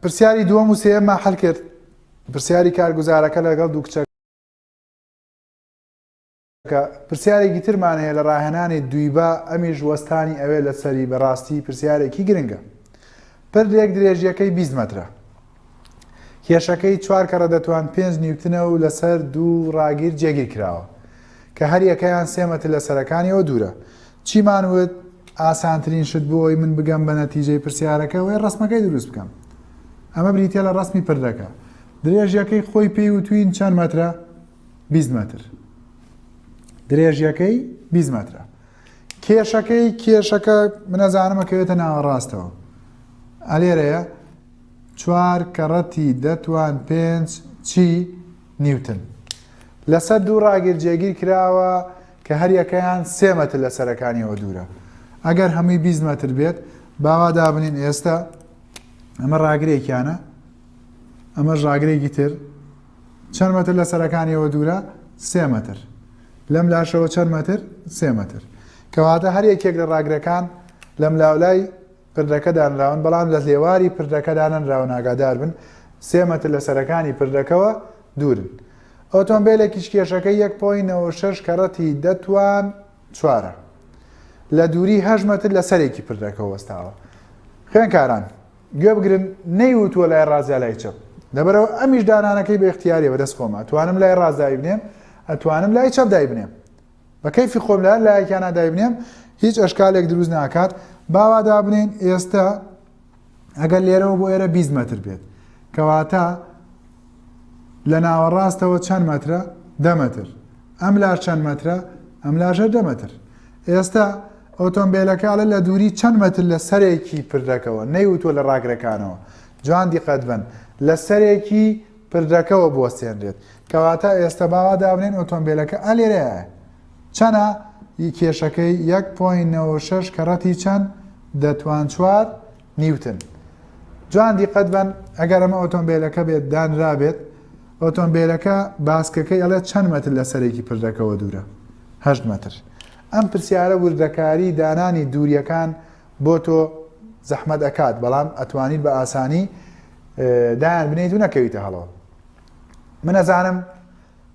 پرسیاری دووەم و سێمە حل کرد پرسیاری کارگوزارەکە لەگەڵ دوو کچە پرسیارێکی ترمان هەیە لە ڕاهێنانی دویبا ئەمیش وەستانی ئەوێ لە سەری بەڕاستی پرسیارێکی گرنگە پردێک درێژیەکەی 20 مترە کێشەکەی چوار کەڕە دەتوان پێنج نیوتنە و لەسەر دوو ڕاگیر جێگیر کراوە کە هەریەکەیان سێمەتر لە سەرەکانیەوە دوورە چیمان وت ئاسانترین شت بۆ ئەوەی من بگەم بە نەتیجەی پرسیارەکە ئەوەی ڕسمەکەی دروست بکەم ئەمە بریتە لە ڕسمی پردەکە درێژیەکەی خۆی پێی وتوین چەند مەترە 20 متر درێژیەکەی 20 مترە کێشەکەی کێشەکە منەزانمە کەوێتە ناوەڕاستەوە ئەلێرەیە چوار کەڕەتی دەتوان پێنج چی نیوتن لەسەر دوو ڕاگیر جێگیر کراوە کە هەریەکەیان سێ مەتر لە سەرەکانیەوە دوورە ئەگەر هەمووی بیست مەتر بێت باوا دابنین ئێستا ئەمە ڕاگرێکیانە ئەمەش ڕاگرێکی تر چەند مەتر لە سەرەکانیەوە دوورە سێ مەتر لەم لاشەوە چەند مەتر سێ مەتر کەواتە هەر یەکێک لە ڕاگرەکان لەم لاولای پردەکە دانراون بەڵام لە لێواری پردەکە دانەنراونئاگاداربن سێ مەتر لە سەرەکانی پردەکەوە دوورن ئۆتۆمبێلێکیش کێشەکەی یەک پۆی نەوە شەش کەڕەتی دە توان چوارە لە دووری هەش مەتر لە سەرێکی پردەکە وەستاوە خوێنکاران گوێ بگرن نەیوتووە لای ڕازیا لای چەپ لەبەرەوە ئەمیش دانانەکەی بە اختیارەوە دەست خۆمە توانم لای ڕازداوی بنێم ئەتوانم لای چەپ دای بنێم بە کەیفی خۆم لە هەر لایەکیانا دایبنێم هیچ ئەشکالێک دروست ناکات باوا دابنێن ئێستا ئەگەر لێرەوە بۆ ئێرە 20 متر بێت کەواتە لە ناوەڕاستەوە چەند مەترە دە متر ئەم لاش چەند مەترە ئەم لاژە دە متر ئێستا ئۆتۆمبیلەکەڵە لە دووری چەند متر لە سەرێکی پردەکەەوە نەیوتوە لە ڕاگرەکانەوە جوان دیقەت بن لە سەرێکی پردەکەوە بوەستێنرێت کەواتە ئێستە باوا دابنێن ئۆتۆمبیلەکە ئا لێرەیە چەنە ی کێشەکەی یەک پۆین نەوە شەش کەڕەتی چەند دەتوان چوار نیوتن جوان دیقەت بن ئەگەر ئەمە ئۆتۆمبیلەکە بێت دانرابێت ئۆتۆمبیلەکە باسکەکەی ئەڵێ چەند مەتر لە سەرێکی پردەکەەوە دوورە هە مەتر ئەم پرسیارە وردەکاری دانانی دووریەکان بۆ تۆ زەحمەت ئەکات بەڵام ئەتوانیت بە ئاسانی دایان بنیت و نەکەویتە هەڵەوە من ئەزانم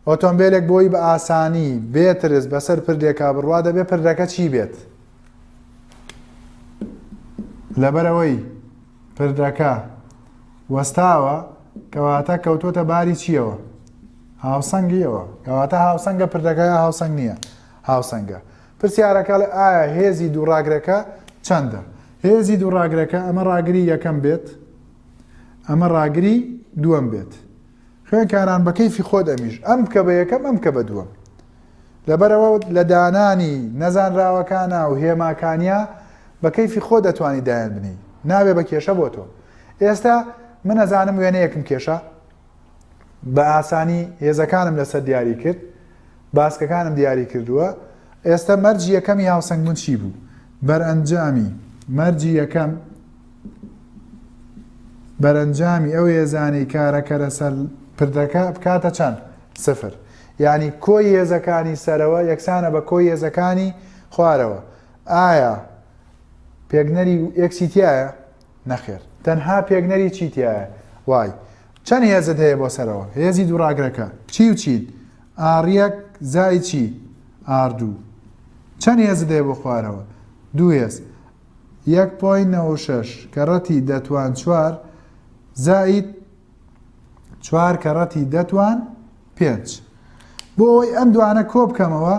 ئۆتۆمبیلێک بۆی بە ئاسانی بێترس بەسەر پردێکا بڕوا دەبێ پردەکە چی بێت لەبەرەوەی پردەکە وەستاوە کەواتە کەوتوتە باری چیەوە هاوسەنگیەوە کەواتە هاوسەنگە پردەکە هاوسەنگ نییە هاوسەنگە پرسیارەکە ئەڵێ ئایا هێزی دوو ڕاگرەکە چەندە؟ هێزی دوو ڕاگرەکە ئەمە ڕاگری یەکەم بێت ئەمە ڕاگری دووەم بێت خوێنکاران بە کەیفی خۆت ئەمیش ئەم بکە بە یەکەم ئەم کە بە دووەم لەبەرەوە لە دانانی نەزانراوەکانە و هێماکانیا بە کەیفی خۆ دەتوانی دایان بنی ناوێ بە کێشە بۆ تۆ ئێستا من ئەزانم وێنەیەکم کێشە بە ئاسانی هێزەکانم لەسەر دیاری کرد باسکەکانم دیاری کردووە ئێستا مەرجی یەکەمی هاوسەنگبوون چی بوو بەرئەنجامی مەرجی یەکەم بەرەنجامی ئەو هێزانی کارەکەرە سەر پردەکە بکاتە چەند سفر یعنی کۆی هێزەکانی سەرەوە یەکسانە بە کۆی هێزەکانی خوارەوە ئایا پێگنەری ئەکسیتیایە نەخێر تەنها پێگنەری چی تایە وای چەند هێزت هەیە بۆ سەرەوە هێزی دووڕاگرەکە چی و چین ئاڕیەک زای چی ئاردوو چەند هێز دێ بۆ خوارەوە دوو هێز یەک پۆی نەوەشەش کە ڕەتی دەتوان چوار زائید چوار کە ڕەتی دەتوان پێنج، بۆ ئەوەی ئەم دوانە کۆبکەمەوە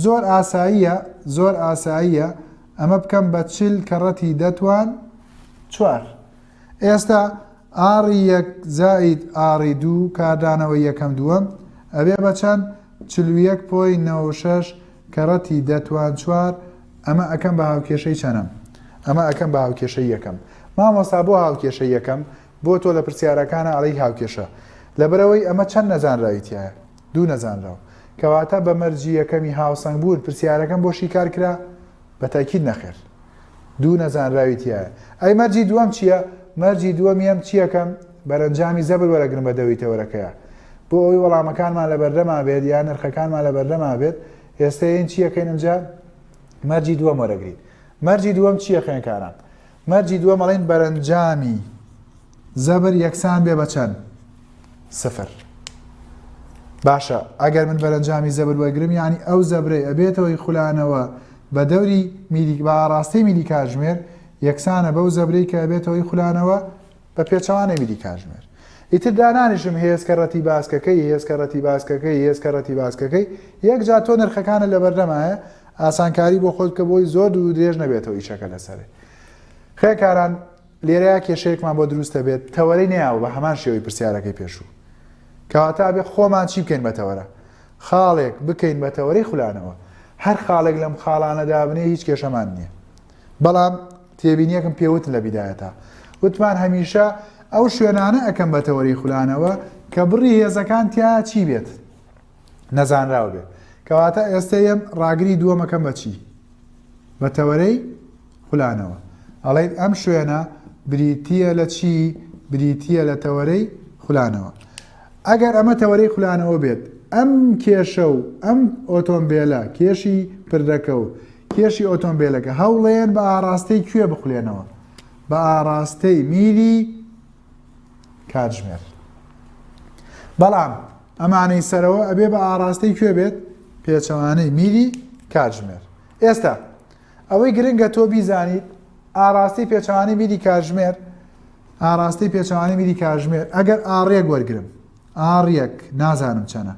زۆر ئاساییە زۆر ئاساییە ئەمە بکەم بە چل کە ڕەتی دە توان چوار ئێستا ئاڕی یەک زائید ئاڕی دوو کاردانەوە یەکەم دووەم ئەبێ بە چەند چل و یەک پۆی نەوە و شەش کە ڕەتی دە توان چوار ئەمە ئەکەم بە هاوکێشەی چەنەم ئەمە ئەکەم بە هاوکێشەی یەکەم مامۆستا بۆ هاوکێشەی یەکەم بۆ تۆ لە پرسیارەکانا ئەڵێی هاوکێشە لەبەرئەوەی ئەمە چەند نەزانراوی تیایە دوو نەزانراو کەواتە بە مەرجی یەکەمی هاوسەنگ بوون پرسیارەکەم بۆ شیکار کرا بە تاکید نەخێر دوو نەزانراوی تیایە ئەی مەرجی دووەم چییە مەرجی دووەمی ئەم چییەکەم بەرەنجامی زەبر وەرەگرن بە دەوری تەوەرەکەیە بۆ ئەوی وەڵامەکانمان لە بەردەما بێت یان نرخەکانمان لە بەردەما بێت ئێستا ین چییەکەین ئەمجا مەرجی دووەم وەرەگرین مەرجی دووەم چییە خوێنکاران مەرجی دووەم ئەڵێن بەرەنجامی زەبر یەکسان بێ بە چەند سفر باشە ئەگەر من بەرەنجامی زەبر وەگرم ینی ئەو زەبرەی ئەبێتەوەی خولانەوە بە دەوری میلیک بە ئاراستەی میلی کاژمێر یەکسانە بەو زەبرەی کە ئەبێتەوەی خولانەوە بە پێچەوانەی میری کاژمێر. ئیتر دانانیشم هێسکە ڕەتی باسکەکەی، هێسکە ڕەتی باسکەکەی، هێسکە ڕەتی باسکەکەی، یەکجار تۆ نرخەکانت لەبەردەمایە، ئاسانکاری بۆ خۆت بکە بۆی زۆر دوور و درێژ نەبێتەوە ئیشەکە لەسەرێ. خوێکاران لێرەیا کێشەیەکمان بۆ دروستە بێت، تەوەرەی نەیاوە بە هەمان شێوەی پرسیارەکەی پێشوو. کەواتە ئەبێ خۆمان چی بکەین بە تەوەرە؟ خاڵێک بکەین بە تەوەرەی خولانەوە. هەر خاڵێک لەم خاڵانە دابنێی هیچ کێشەمان نییە. بەڵام تێبینیەکم پێ وتن لە بیدایەتا وتمان هەمیشە ئەو شوێنانە ئەکەم بە تەوەری خولانەوە کە بڕی هێزەکان تیا چی بێت نەزانراو بێت کەواتە ئێستا یەم ڕاگری دووەمەکەم بە چی بە تەوەرەی خولانەوە ئەڵێن ئەم شوێنە بریتە لە چی بریتە لە تەوەرەی خولانەوە ئەگەر ئەمە تەوەرەی خولانەوە بێت، ئەم کێشە و ئەم ئۆتۆمبێلە، کێشی پردەکە و کێشی ئۆتۆمبێلەکە، هەوڵێن بە ئاڕاستەی کوێ بخولێنەوە؟ بە ئاڕاستەی میلی کاتژمێر. بەڵام ئەمانەی سەرەوە ئەبێ بە ئاڕاستەی کوێ بێت؟ پێچەوانەی میلی کاتژمێر. ئێستا ئەوەی گرنگە تۆ بیزانیت، ئاڕاستەی پێچەوانەی میلی کاتژمێر، ئاراستەی پێچەوانەی میری کاژمێر ئەگەر ئاڕ یەک وەرگرم ئاڕ یەک نازانم چەنە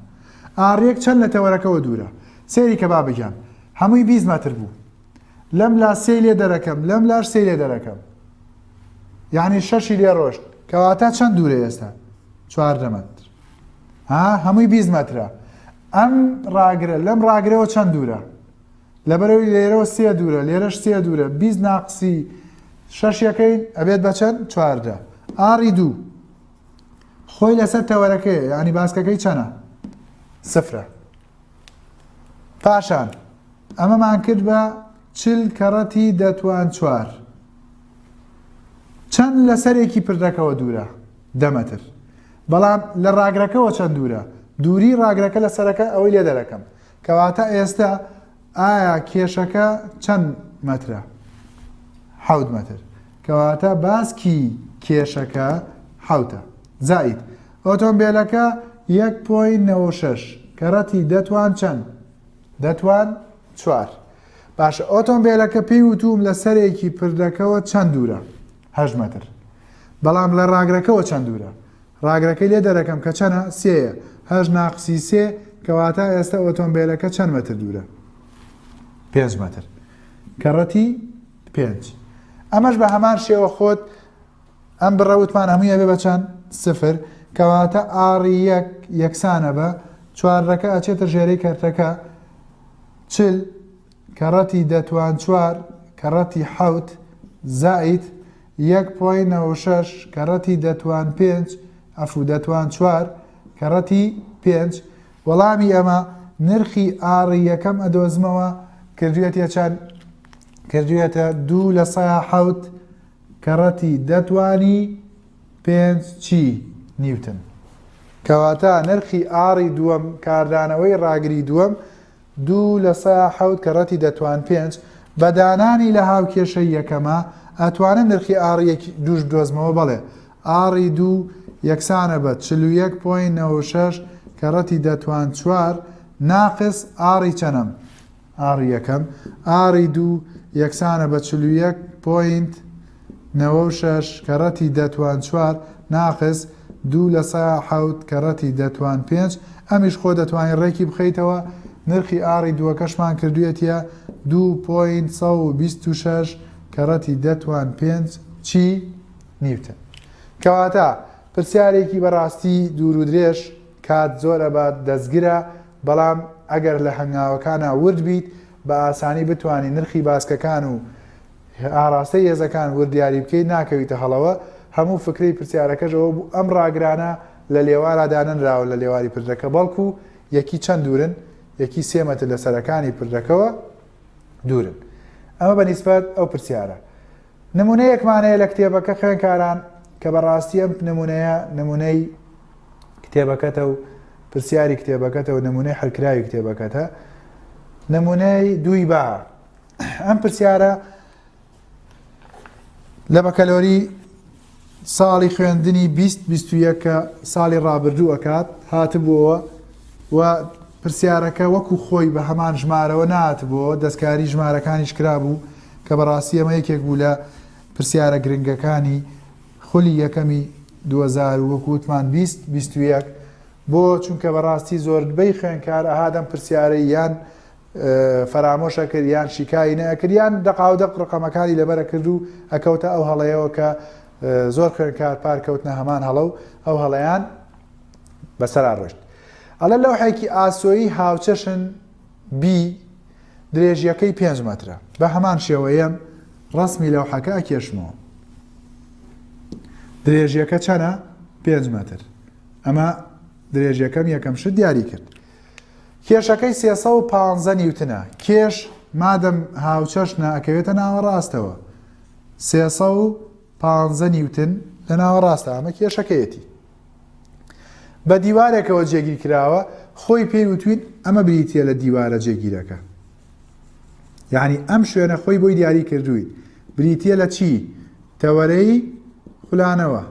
ئاڕ یەک چەند لە تەوەرەکەەوە دوورە سێری کە با بگیان هەمووی بیست مەتر بوو لەم لا سێ لێ دەرەکەم لەم لاش سێ لێ دەرەکەم یعنی شەشی لێ ڕۆشت کەواتە چەند دوورە ئێستا چواردە مەتر ها هەمووی بیست مەترە ئەم ڕاگرە لەم ڕاگرەوە چەند دوورە لەبەرئەوەی لێرەوە سێ دوورە لێرەش سێ دوورە بیست ناقسی شەش یەکەین ئەبێت بە چەند چواردە ئاری دوو خۆی لەسەر تەوەرەکەی یعنی باسکەکەی چەنە سفرە پاشان ئەمەمان کرد بە چل کەڕەتی دەتوان چوار چەند لە سەرێکی پردەکەەوە دوورە دەمەتر بەڵام لە ڕاگرەکەەوە چەند دوورە دووری ڕاگرەکە لە سەرەکە ئەوەی لێ دەرەکەم کەواتە ئێستە ئایا کێشەکە چەند مەترە حەوت مەتر کەواتە باسکی کێشەکە حوتە زایت ئۆتۆمبیلەکە 1.96 کەڕەتی دەتوان چەند دەتوان چوار باشە ئۆتۆمبیلەکە پێی وتوم لە سەرێکی پردەکەەوە چەند دوورە هەژمەتر بەڵام لە ڕاگرەکەەوە چەند دوورە ڕاگرەکەی لێ دەرەکەم کە چەنە؟ سێ یە. هەشت ناقسی سێ، کەواتە ئێستە ئۆتۆمبێلەکە چەند مەتر دوورە؟ پێنج مەتر. کەڕەتی پێنج. ئەمەش بە هەمان شێوە خۆت ئەم بڕە وتمان هەمووی ئەبێ بە چەند؟ سفر. کەواتە ئاڕی یەک یەکسانە بە چوارەکە ئەچێتە ژێرەی کەرتەکە چل کەڕەتی دە توان چوار کەڕەتی حەوت زائید یەک پۆی نەوە و شەش کەڕەتی دە توان پێنج ئەفو دە توان چوار کەڕەتی پێنج وەڵامی ئەمە نرخی ئاڕی یەکەم ئەدۆزمەوە کردوێتە چەند کردوێتە دوو لە سا حەوت کەڕەتی دەتوانی پێنج چی نیوتن کەواتە نرخی ئاڕی دووەم کاردانەوەی ڕاگری دووەم دوو لە سەا حەوت کە رەتی دەتوان پێنج بە دانانی لە هاوکێشەی یەکەما ئەتوانم نرخی ئاڕی یەک دووش بدۆزمەوە بەڵێ ئاڕی دوو یەکسانە بە چل و یەک پۆینت نەوە و شەش کە رەتی دەتوان چوار ناقس ئاڕی چەنم ئاڕی یەکەم ئاڕی دوو یەکسانە بە چل و یەک پۆینت نەوە و شەش کە ڕەتی دە توان چوار ناقس دوو لە سەا حەوت کە ڕەتی دە توان پێنج ئەمیش خۆ دەتوانی ڕێکی بخەیتەوە نرخی ئاڕی دووەکەشمان کردویەتیە دوو پۆینت سەد و بیست و شەش کە ڕەتی دە توان پێنج چی نیوتن کەواتە پرسیارێکی بە ڕاستی دوور و درێژ کات زۆر ئەبات دەستگرە بەڵام ئەگەر لە هەنگاوەکانا ورد بیت بە ئاسانی بتوانی نرخی باسکەکان و هه ئاراستەی هێزەکان وردیاری بکەیت ناکەویتە هەڵەوە، هەموو فکرەی پرسیارەکەش ئەوە بوو ئەم ڕاگرانە لە لێوارا دانەنراون لە لێواری پردەکە بەڵکو یەکی چەند دوورن؟ یەکی سێ مەتر لە سەرەکانی پردەکەوە دوورن. ئەمە بە نیسبەت ئەو پرسیارە. نمونەیەکمان هەیە لە کتێبەکە خوێنکاران کە بەڕاستی ئەم نمونەیە نمونەی کتێبەکەتە و پرسیاری کتێبەکەتە و نمونەی حلکراوی کتێبەکەتە نمونەی دووی با ئەم پرسیارە لە بەکەلۆری ساڵی خوێندنی 2021 کە ساڵی ڕابردوو ئەکات هاتبووەوە و پرسیارەکە وەکو خۆی بە هەمان ژمارەوە نات بۆ دەستکاری ژمارەکانیش کرابوو کە بەڕاستی ئەمە یەکێک بوو لە پرسیارە گرنگەکانی خولی یەکەمی 2000 وەکووتمان 20 21 بۆ چونکە بەڕاستی زۆربەی خوێنکار ئەهادەم پرسیارە یان فەرامۆش ئەکرد یان شیکاری نەئەکرد یان دەقاودەق ڕقەمەکانی لەبەر ئەکرد و ئەکەوتە ئەو هەڵەیەوە کە زۆر خوێنکار پار کەوتنە هەمان هەڵە و ئەو هەڵەیان بەسەرا ڕۆشت ئەڵە لەوحێکی ئاسۆیی هاوچەشن بی درێژیەکەی پێنج مەترە بە هەمان شێوەیەم ڕسمی لەوحەکە ئەکێشمەوە درێژیەکە چەنە پێنج مەتر ئەمە درێژیەکەم یەکەم شت دیاری کرد کێشەکەی سێ سەد و پازدە نیوتنە، کێش مادەم هاوچەشنە ئەکەوێتە ناوەڕاستەوە، سێ سەد و پازدە نیوتن لە ناوەڕاستە ئەمە کێشەکەیەتی. بە دیوارێکەوە جێگیر کراوە خۆی پێی وتوین ئەمە بریتە لە دیوارە جێگیرەکە یعنی ئەم شوێنە خۆی بۆی دیاری کردوین بریتە لە چی تەوەرەی خولانەوە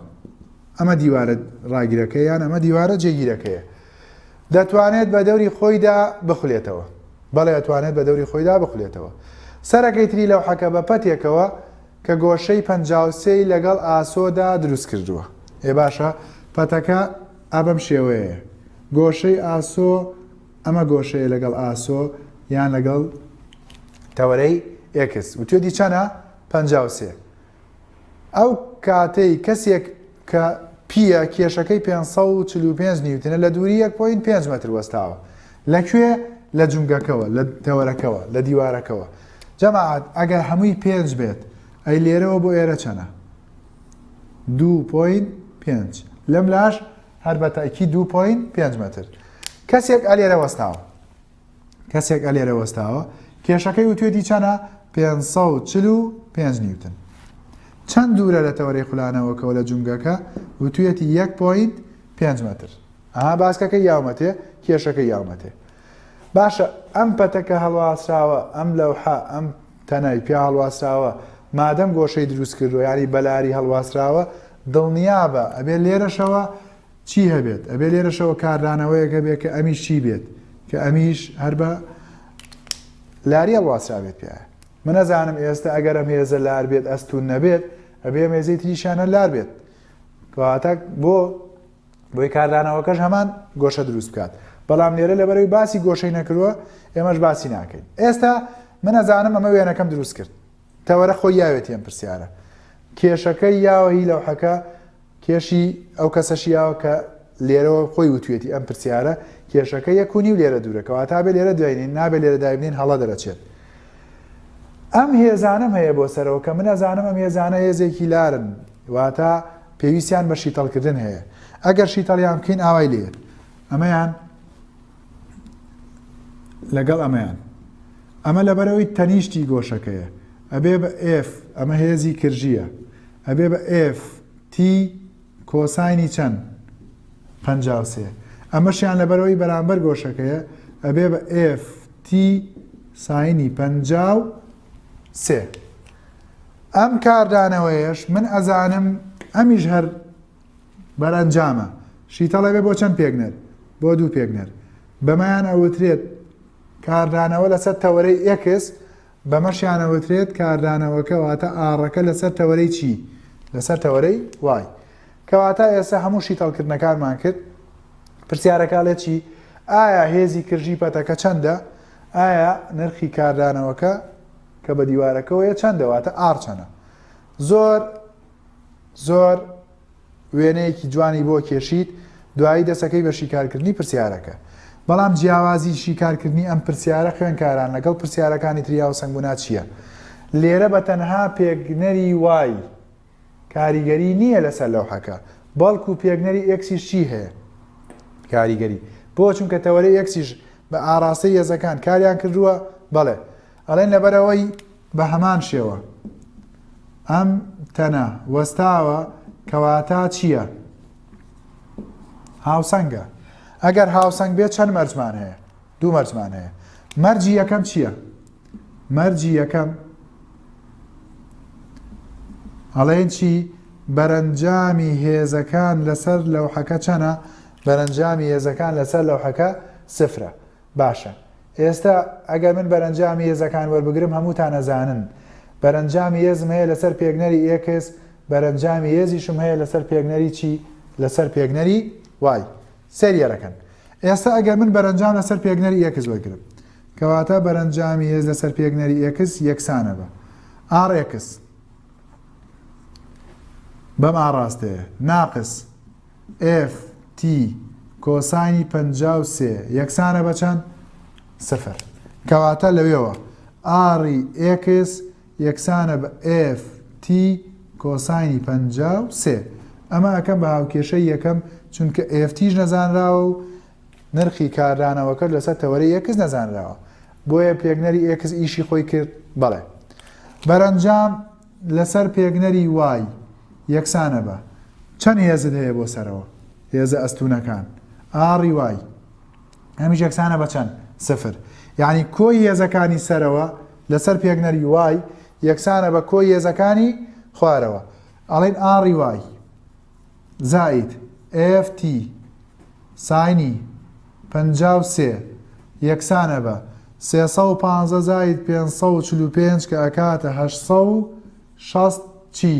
ئەمە دیوارە ڕاگیرەکە یان ئەمە دیوارە جێگیرەکەیە دەتوانێت بە دەوری خۆیدا بخولێتەوە. بەڵێ ئەتوانێت بە دەوری خۆیدا بخولێتەوە. سەرەکەی تری لەوحەکە بە پەتێکەوە کە گۆشەی پەنجا و سێ ی لەگەڵ ئاسۆدا دروست کردووە. ئێ باشە پەتەکە ئا بەم شێوەیەیە. گۆشەی ئاسۆ ئەمە گۆشەیە لەگەڵ ئاسۆ یان لەگەڵ تەوەرەی ئێکس. وتوێتی چەنە؟ پەنجا و سێ. ئەو کاتەی کەسێک کە پییە کێشەکەی پێنج سەد و چل و پێنج نیوتنە لە دووری یەک پۆینت پێنج مەتر وەستاوە لە کوێ لە جومگەکەوە لە تەوەرەکەوە لە دیوارەکەوە جەماعەت ئەگەر هەمووی پێنج بێت ئەی لێرەوە بۆ ئێرە چەنە دوو پۆینت پێنج لەم لاش هەر بە تاکی دوو پۆینت پێنج مەتر کەسێک ئەلێرە وەستاوە کەسێک ئە لێرە وەستاوە کێشەکەی وتوێتی چەنە 545 نیوتن چەند دوورە لە تەوەری خولانەوەکەەوە لە جونگەکە وتوێتی 1.5 متر ئەها باسکەکە یاومەتێ کێشەکە یاومەتێ باشە ئەم پەتەکە هەڵواسراوە ئەم لەوحە ئەم تەنای پیا هەڵواسراوە مادەم گۆشەی دروست کردو ینی بەلاری هەڵواسراوە دڵنیابە ئەبێ لێرەشەوە چی هەبێت ئەبێ لێرەشەوە کاردانەوەیەک هەبێت کە ئەمیش چی بێت کە ئەمیش هەر بە لاریە واسرابێت پێ من نەزانم ئێستا ئەگەرم هێزە لار بێت ئەستون نەبێت ئەبێ مێزەی تریشانە لار بێت کەواتە بۆ بۆی کاردانەوەکەش هەمان گۆشە دروست بکات بەڵام لێرە لەبەرەوەی باسی گۆشەی نەکردووە ئێمەش باسی ناکەین ئێستا من نەزانم ئەمە وێنەکەم دروست کرد تەوەرە خۆی یاوێت یەم پرسیارە کێشەکەی یاوەهی لەوحەکە کێشی ئەو کەسە شیاوە کە لێرەوە خۆی وتویەتی ئەم پرسیارە کێشەکە یەک و نیو لێرە دوورە کەواتا بێ لێرە دوینین نابێ لێرە دایبنین هەڵە دەرەچێت ئەم هێزانم هەیە بۆ سەرەوە کە من ئەزانم ئەم هێزانە هێزێکی لارن واتە پێویستیان بە شیتەڵکردن هەیە ئەگەر شیتەڵیان بکەین ئاوای لێت ئەمەیان لەگەڵ ئەمەیان ئەمە لەبەرەوەی تەنیشتی گۆشەکەیە ئەبێ بە ئف ئەمە هێزی کرژیە ئەبێ بە ئف تی کۆساینی چەند پ سێ ئەمەشیان لەبەرەوەی بەرامبەر گۆشەکەیە ئەبێ بە ئف تی ساینی پ سێ ئەم کاردانەوەیش من ئەزانم ئەمیش هەر بەرەنجامە شیتەڵێ بێ بۆ چەند پێکنەر بۆ دوو پێکنەر بەمەیان ئەوترێت کاردانەوە لەسەر تەوەرەی ئێکس بەمەشیانەوترێت کاردانەوەکە واتە ئاڕەکە لەسەر تەوەرەی چی لەسەر تەوەرەی وای کەواتە ئێستا هەموو شیتەڵکردنەکانمان کرد پرسیارەکە لێ چی ئایا هێزی کرژی پەتەکە چەندە ئایا نرخی کاردانەوەکە کە بە دیوارەکەەوەیە چەندەواتە ئارچەنە زۆر زۆر وێنەیەکی جوانی بۆ کێشیت دوایی دەسەکەی بە شیکارکردنی پرسیارەکە بەڵام جیاوازی شیکارکردنی ئەم پرسیارە خوێنکاران لەگەڵ پرسیارەکانی تریاو سنگونا چییە لێرە بە تەنها پێگنەری وای کاریگەری نییە لەسەر لەوحەکە بەڵکو پێگنەری ئەکسیش چی هەیە کاریگەری بۆ چونکە تەوەری ئەکسیش بە ئاراستەی یەزەکان کاریان کردووە بەڵێ ئەڵێن لەبەرەوەی بە هەمان شێوە ئەم تەنە وەستاوە کەواتە چییە؟ هاوسەنگە ئەگەر هاوسەنگ بێت چەند مەرجمان هەیە دوو مەرجمان هەیە مەرجی یەکەم چییە؟ مەرجی یەکەم ئەڵێن چی بەرەنجامی هێزەکان لەسەر لەوحەکە چەنە بەرەنجامی هێزەکان لەسەر لەوحەکە سفرە باشە ئێستا ئەگەر من بەرەنجامی یێزەکان وەربگرم هەمووتان ئەزانن بەرەنجامی یێزم هەیە لەسەر پێگنەری ئێکس بەرەنجامی یێزیشم هەیە لەسەر پێگنەری چی لەسەر پێگنەری وای سریەرەکەن ئێستا ئەگەر من بەرەنجام لەسەر پێگنەری ئێکس وەرگرم کەواتە بەرەنجامی هێز لەسەر پێگنەری ئێکس یەکسانە بە ئاڕێکس بەم ئاڕاستەیە ناقس ئێف تی کۆساینی پەنجا و سێ یەکسانە بە چەند؟ سفر کەواتە لەوێوە ئاڕی ئێکس یەکسانە بە ئێف تی کۆساینی پەنجا و سێ ئەمە ئەکەم بە هاوکێشەی یەکەم چونکە ئێف تیش نەزانراوە و نرخی کاردانەوەکە لەسەر تەوەری ئێکس نەزانراوە بۆیە پێکنەری ئێکس ئیشی خۆی کرد بەڵێ بەرەنجام لەسەر پێگنەری وای یەکسانە بە. چەند هێزت هەیە بۆ سەرەوە. هێزە ئەستوونەکان. ئاڕی وای. هەمیش یەکسانە بە چەند؟ سفر. یانی کۆی هێزەکانی سەرەوە لەسەر پێگنەری وای یەکسانە بە کۆی هێزەکانی خوارەوە. ئەڵێن ئاڕی وای. زائید، ئێف تی، ساینی، پەنجا و سێ، یەکسانە بە، سێ سەد و پازدە زائید پێنج سەد و چل و پێنج کە ئەکاتە هەشت سەد و شەست چی؟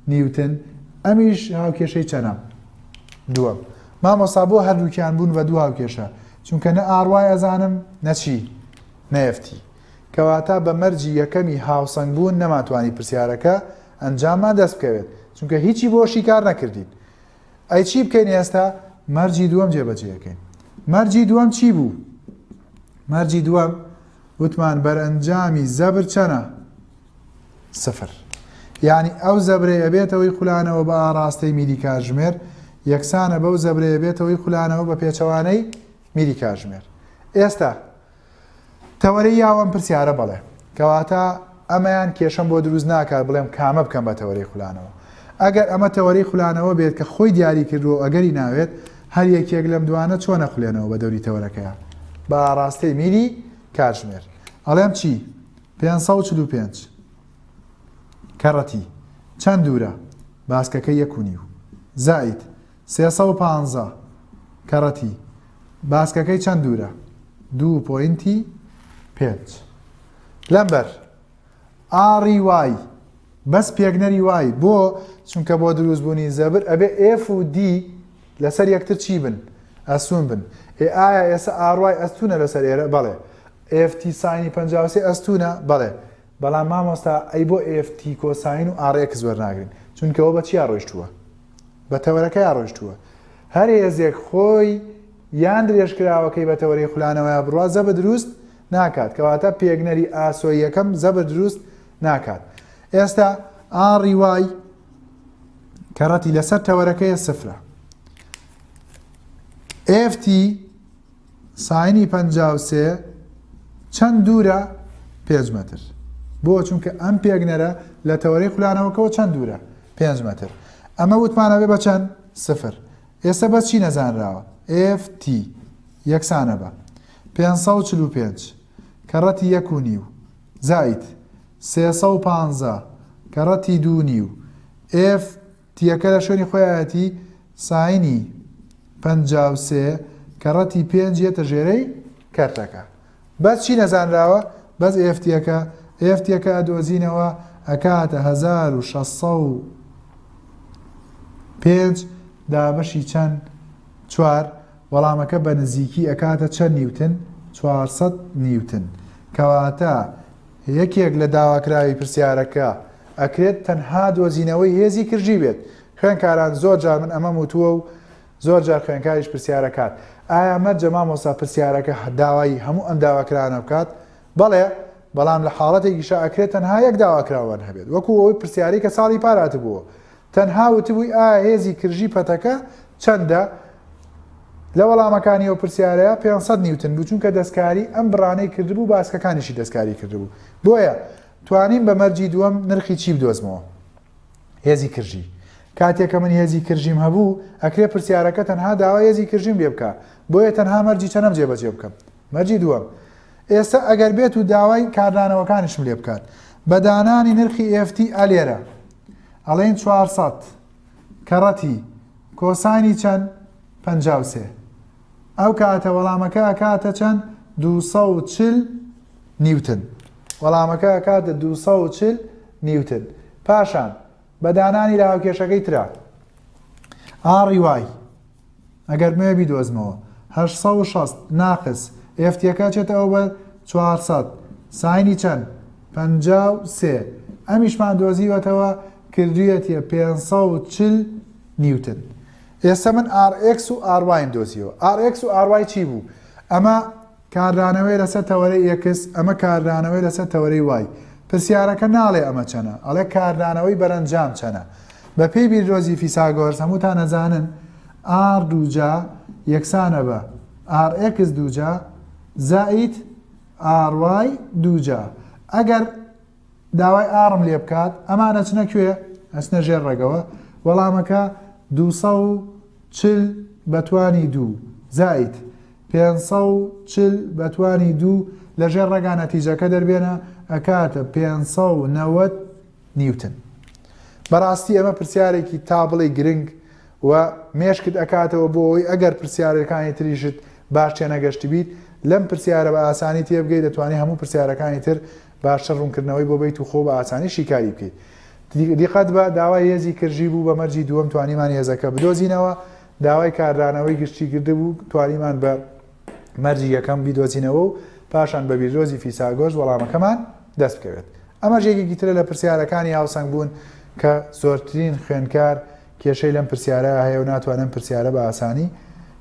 نیوتن، ئەمیش هاوکێشەی چەنە؟ دووەم، مامۆستا بۆ هەردووکیان بوون بە دوو هاوکێشە؟ چونکە نە ئاڕ وای ئەزانم نە چی؟ نە ئێف تی. کەواتە بە مەرجی یەکەمی هاوسەنگ بوون نەمانتوانی پرسیارەکە ئەنجاممان دەست بکەوێت چونکە هیچی بۆ شیکار نەکردین ئەی چی بکەین ئێستا مەرجی دووەم جێبەجێەکەین مەرجی دووەم چی بوو مەرجی دووەم وتمان بەرئەنجامی زەبر چەنە سفر یعنی ئەو زەبرەیە بێتەوەی خولانەوە بە ئاراستەی میلی کاژمێر یەکسانە بەو زەبرەیە بێتەوەی خولانەوە بە پێچەوانەی میلی کاژمێر ئێستا تەوەرەی یاو ئەم پرسیارە بەڵێ کەواتە ئەمەیان کێشەم بۆ دروست ناکات بڵێم کامە بکەم بە تەوەری خولانەوە ئەگەر ئەمە تەوەری خولانەوە بێت کە خۆی دیاری کردووە ئەگەری ناوێت هەر یەکێک لەم دوانە چۆن نەخولێنەوە بە دەوری تەوەرەکەیان بە ئاراستەی میلی کاتژمێر ئەڵێم چی 545 کەڕەتی چەند دوورە باسکەکە یەک و نیو زائید سێ سەد و پانزە، کەرەتی باسکەکەی چەند دوورە؟ دوو پۆینتی پێنج. لەمبەر ئاڕی وای بەس پێکنەری وای بۆ چونکە بۆ دروستبوونی زەبر ئەبێ ئێف و دی لەسەر یەکتر چی بن ئەسون بن ئێ ئایا ئێسە ئاڕوای ئەستونە لەسەر ئێرە بەڵێ ئێفتی ساینی پەنجاوسێ ئەستونە بەڵێ بەڵام مامۆستا ئەی بۆ ئێف تی کۆساین و ئاڕ ئێکس وەرناگرین چونکە ئەوە بە چیا ڕۆیشتووە بە تەوەرەکەیا ڕۆیشتووە هەر هێزێک خۆی یان درێژکراوەکەی بە تەوەرەی خولانەوەیا بڕوا زەبر دروست ناکات کەواتە پێگنەری ئاسۆی یەکەم زەبر دروست ناکات ئێستا ئاڕی وای کەڕەتی لەسەر تەوەرەکەیە سفرە ئێفتی ساینی پەنجا و سێ چەند دوورە پێنج مەتر بۆ چونکە ئەم پێگنەرە لە تەوەرەی خولانەوەکەەوە چەند دوورە پێنج مەتر ئەمە وتمانەوێ بە چەند سفر ئێستا بە چی نەزانراوە FT یەکسانە بە 545 کەڕەتی یەک و نیو زایت 315 کەڕەتی دوو نیو F تیەکە لە شوێنی خۆی ئایەتی ساینی پەنجا و سێ کە ڕەتی پێنج یەتە ژێرەی کەرتەکە بەس چی نەزانراوە بەس ئێفتیەکە ئێفتیەکە ئەدۆزینەوە ئەکاتە هەزار و شەش سەد و پێنج دابەشی چەند چوار وەڵامەکە بە نزیکی ئەکاتە چەند نیوتن چوار سەد نیوتن کەواتە یەکێک لە داواکراوی پرسیارەکە ئەکرێت تەنها دۆزینەوەی هێزی کرژی بێت. خوێنکاران زۆر جار من ئەمەم وتووە و زۆر جار خوێنکاریش پرسیارەکات، ئایا مەرجە مامۆستا پرسیارەکە داوای هەموو ئەم داواکراوانە بکات؟ بەڵێ، بەڵام لە حاڵەتێکیشا ئەکرێت تەنها یەک داواکراوان هەبێت، وەکو ئەو پرسیارەی کە ساڵی پار هاتبووە، تەنها وتبووی ئایا هێزی کرژی پەتەکە چەندە؟ لە وەڵامەکانی ئەو پرسیارەیا پێنج سەد نیوتن بوو، چونکە دەستکاری ئەم بڕانەی کردبوو، باسکەکانیشی دەستکاری کردبوو، بۆیە توانیم بە مەرجی دووەم نرخی چی بدۆزمەوە؟ هێزی کرژی. کاتێ کە من هێزی کرژیم هەبوو، ئەکرێ پرسیارەکە تەنها داوای هێزی کرژیم لێ بکا، بۆیە تەنها مەرجی چەنەم جێبەجێ بکەم. مەرجی دووەم. ئێستە ئەگەر بێت و داوای کاردانەوەکانیشم لێ بکات. بە دانانی نرخی FT A لێرە. ئەڵێین چوار سەد. کەڕەتی. کۆساینی چەند؟ پەنجا و سێ. ئەو کاتە وەڵامەکە ئەکاتە چەند؟ دوو سەد و چل نیوتن. وەڵامەکە ئەکاتە دوو سەد و چل نیوتن. پاشان بە دانانی لە هاوکێشەکەی ترا ئاڕی وای ئەگەر بمەوێ بیدۆزمەوە هەشت سەد و شەست ناقس ئێفتیەکە چێتەوە بە چوار سەد ساینی چەند پەنجا و سێ ئەمیشمان دۆزیوەتەوە کردوویەتیە پێنج سەد و چل نیوتن ئێستا من RX و RY دۆزیەوە RX و RY چی بوو ئەمە کاردانەوەی لەسەر تەوەرەی X ئەمە کاردانەوەی لەسەر تەوەرەی وای پرسیارەکە ناڵێ ئەمە چەنە ئەڵێ کاردانەوەی بەرەنجام چەنە بەپێی بیردۆزی فیساگۆرس هەمووتان نەزانن R دوجا یەکسانە بە RX دوجا زائیت RY دوجا ئەگەر داوای ئاڕم لێ بکات ئەمان ئەچنە کوێ ئەچنە ژێر ڕێگەوە وەڵامەکە دو چل بەتوانی دوو زایت پێ چل بەتوانی دوو لە ژێر ڕێگا نەتیجەکە دەربێنە ئەکاتە پێ نەوەت نیوتن بەڕاستی ئەمە پرسیارێکی تا بڵێ گرنگ و مێشکت ئەکاتەوە بۆ ئەوی ئەگەر پرسیارەکانی تریشت باش تێنەگەشت بیت لەم پرسیارە بە ئاسانی تێبگەی دەتوانانی هەموو پرسیارەکانی تر باشتر ڕوونکردنەوەی بۆ بەیت و خۆ بە ئاسانی شیکاری بکەیت. دیقەت بە داوای هێزی کرژی بوو بە مەرجی دووەم توانیمان هێزەکە بدۆزینەوە، داوای کاردانەوەی گشتی کردبوو توانیمان بە مەرجی یەکەم بیدۆزینەوە و پاشان بە بیردۆزی فیساگۆس وەڵامەکەمان دەست بکەوێت. ئەمەش یەکێکی ترە لە پرسیارەکانی هاوسەنگ بوون کە زۆرترین خوێندکار کێشەی لەم پرسیارە هەیە و ناتوانێت ئەم پرسیارە بە ئاسانی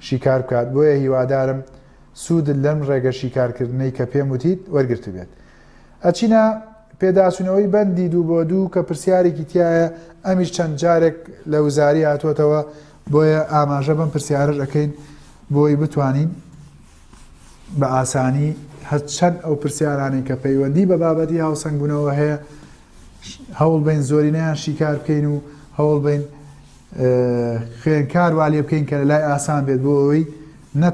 شیکار بکات بۆیە هیوادارم سوودت لەم ڕێگە شیکارکردنەی کە پێم وتیت وەرگرتبێت. ئەچینە پێداچوونەوەی بەندی دوو بۆ دوو کە پرسیارێکی تایە ئەمیش چەند جارێک لە وزاری هاتووەتەوە بۆیە ئاماژە بەم پرسیارش ئەەکەین بۆی بتوانین بە ئاسانی هەرچەند ئەو پرسیارانی کە پەیوەندی بە بابەتی هاوسەنگبوونەوە هەیە هەوڵ بین زۆرینەیان شیکار بکەین و هەوڵ بین خوێنکار والێ بکەین کە لە لای ئاسان بێت بۆ ئەوەی نە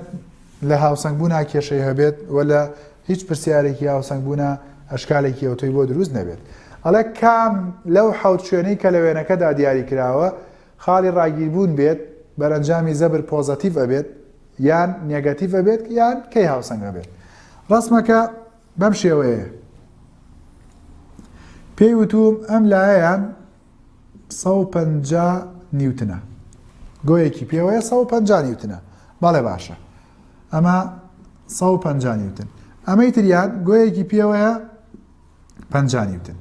لە هاوسەنگبوونا کێشەی هەبێت و لە هیچ پرسیارێکی هاوسەنگبوونا ئەشکالێکی ئەوتۆی بۆ دروست نەبێت ئەڵێ کام لەو حەوت شوێنەی کە لە وێنەکەدا دیاری کراوە خاڵی ڕاگیربوون بێت بەرەنجامی زەبر پۆزەتیڤ ئەبێت یان نێگەتیڤ ئەبێت یان کەی هاوسەنگ ئەبێت ڕسمەکە بەم شێوەیە پێی وتوم ئەم لایەن سەد و پەنجا نیوتنە گۆیەکی پێوەیە سەد و پەنجا نیوتنە بەڵێ باشە ئەمە سەد و پەنجا نیوتن ئەمەی تریان گۆیەکی پێوەیە پەنجا نیوتن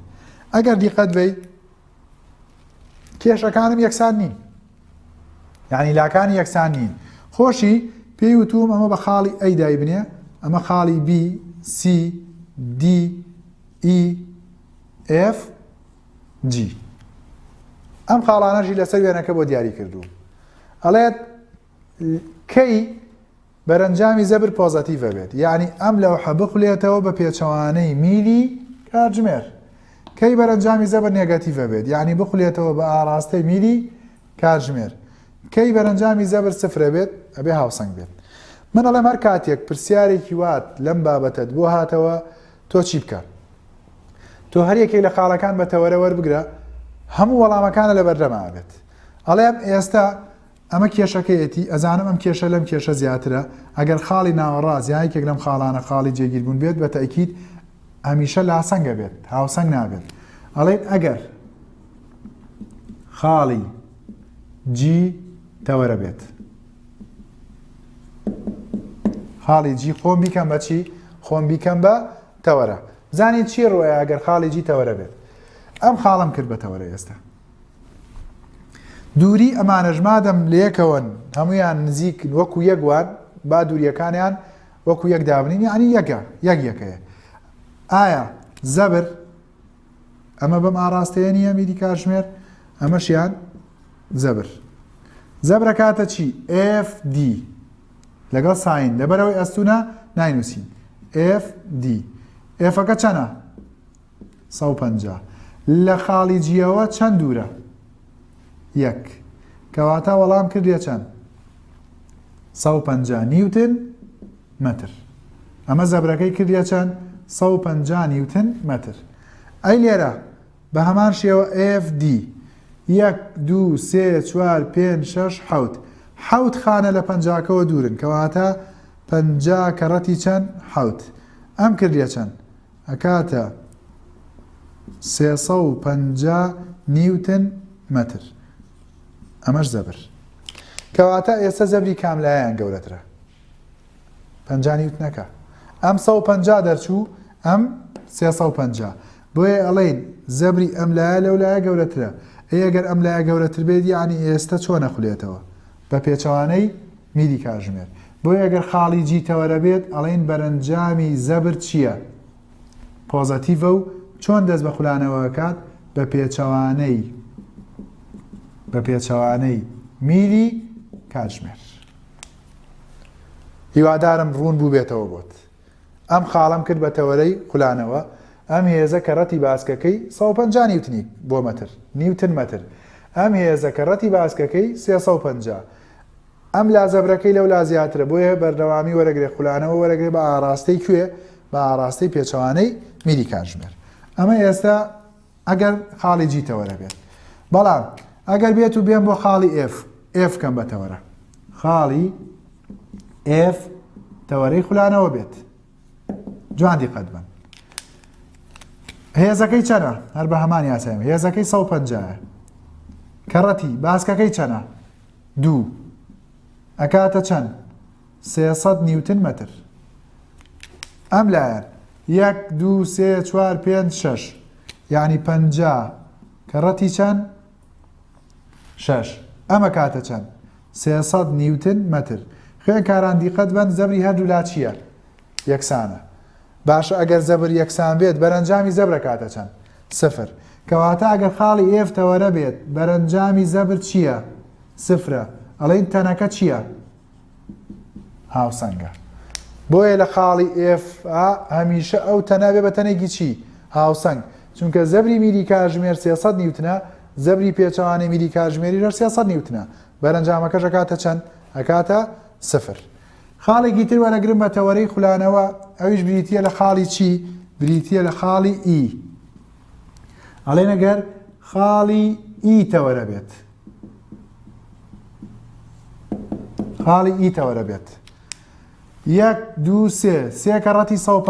ئەگەر دیقەت بی کێشەکانم یەکسان نین یعنی لاکانی یەکسان نین خۆشی پێی وتوم ئەمە بە خاڵی ئەی دای بنێ ئەمە خاڵی بی سی دی ئی ئف جی ئەم خاڵانەشی لەسەر وێنەکە بۆ دیاری کردووم ئەڵێت کەی بەرەنجامی زەبر پۆزەتیڤە بێت یعنی ئەم لەو حەبخلێتەوە بە پێچەوانەی میلی کاتژمێر کەی بەرەنجامی زەبر نێگەتیڤە بێت یعنی بخلێتەوە بە ئاراستەی میلی کاتژمێر کەی بەرەنجامی زەبر سفرە بێت ئەبێ هاوسنگ بێت من ئەڵێم هەر کاتێک پرسیارێکی وات لەم بابەتت بۆ هاتەوە تۆ چی بکەم؟ تۆ هەر یەکێک لە خاڵەکان بە تەوەرە وەربگرە هەموو وەڵامەکانە لەبەردەما بێت ئەڵێم ئێستا ئەمە کێشەکەیەتی ئەزانم ئەم کێشە لەم کێشە زیاترە ئەگەر خاڵی ناوەڕاز یا یەکێک لەم خاڵانە خاڵی جێگیربوون بێت بە تەکیید هەمیشە لاسەنگە بێت هاوسەنگ نابێت ئەڵێن ئەگەر خاڵی جی تەوەرە بێت خاڵی جی خۆم بیکەم بە چی خۆم بیکەم بە تەوەرە زانی چی ڕۆیە ئەگەر خاڵی جی تەوەرە بێت ئەم خاڵم کرد بە تەوەرە ئێستا دووری ئەمانەژمادەم لەکەون هەمویان نزیک وەکو یەکوان با دووریەکانیان وەکو یەک دابنین یعنی یەکە یەک یەکەیە ئایا زەبر ئەمە بەم ئاراستەیە نییە میری کاتژمێر ئەمەشیان زەبر زەبرە کاتە چی FD لەگەڵ ساین لەبەرەوەی ئەستونە ناینووسین FD ئێفەکە چەنە 150 لە خاڵی جیەوە چەند دوورە یەک کەواتە وەڵام کردە چەند 150 نیوتن مەتر ئەمە زەبرەکەی کردیە چەند سەد و پەنجا نیوتن مەتر ئەی لێرە بە هەمان شێوە FD یەک دوو سێ چوار پێنج شەش حەوت حەوت خانە لە پەنجاکەوە دوورن کەواتە پەنجا کەڕەتی چەند حەوت ئەم کردیە چەند ئەکاتە سێسە و پەنجا نیوتن مەتر ئەمەش زەبر کەواتە ئێستا زەبری کاملایەن گەورەترە پەنجا نیوتنەکە ئەم سەد و پەنجا دەرچوو ئەم سێ سەد و پەنجا بۆیە ئەڵێین زەبری ئەم لایە لەو لایە گەورەترە ئەی گەر ئەم لایە گەورەتر بێت یعنی ئێستا چۆن نەخولێتەوە بە پێچەوانەی میری کاژمێر بۆیە ئەگەر خاڵی جی تەوەرە بێت ئەڵێین بەرەنجامی زەبر چییە پۆزەتیڤە و چۆن دەست بە خولانەوە کات بە پێچەوانەی بە پێچەوانەی میری کاتژمێر هیوادارم ڕوون بووبێتەوە بۆت. ئەم خاڵەم کرد بە تەوەرەی خولانەوە، ئەم هێزە کە ڕەتی باسکەکەی سەد و پەنجا نیوتنی بۆ مەتر، نیوتن مەتر، ئەم هێزە کە ڕەتی باسکەکەی سێ سەد و پەنجا، ئەم لا زەبرەکەی لەو لا زیاترە، بۆیە بەردەوامی وەرەگرێ خولانەوە وەرەگرێ بە ئاڕاستەی کوێ؟ بە ئاڕاستەی پێچەوانەی میری کاتژمێر. ئەمە ئێستا. ئەگەر خاڵی جی تەوەرە بێت بەڵام ئەگەر بێت و بێن بۆ خاڵی ئف ئف کەم بە تەوەرە خاڵی ئف تەوەرەی خولانەوە بێت جوان دیقەت بن هێزەکەی چەنە هەر بە هەمان یاسایم هێزەکەی 150 کەڕەتی باسکەکەی چەنە دوو ئەکاتە چەند سێ سەد نیوتن مەتر ئەم لایەن یەک دوو سێ چوار پێنج شەش یعنی پەنجا کە ڕەتی چەند شەش ئەمە کاتە چەند سێ سەد نیوتن مەتر خوێنکاران دیقەت بەن زەبری هەردوو لا چییە یەکسانە باشە ئەگەر زەبر یەکسان بێت بەرەنجامی زەبرە کاتە چەند سفر کەواتە ئەگەر خاڵی ئێف تەوەرە بێت بەرەنجامی زەبر چییە سفرە ئەڵین تەنەکە چییە هاوسەنگە بۆیە لە خاڵی ئێف هەمیشە ئەو تەنە بێ بە تەنێکی چی هاوسەنگ چونکە زەبری میری کاژمێر 300 نیوتنە زەبری پێچەوانەی میری کاژمێری ژەر 300 نیوتنە بەرەنجامەکە ژەکاتە چەند ئەکاتە سفر خاڵێکی تر وەرەگرم بە تەوەرەی خولانەوە ئەویش بریتە لە خاڵی چی بریتە لە خاڵی ئی ئەڵێ نەگەر خاڵی ئی تەوەرە بێت خاڵی ئی تەوەرە بێت یەک دوو سێ سێ کە ڕەتی سە پ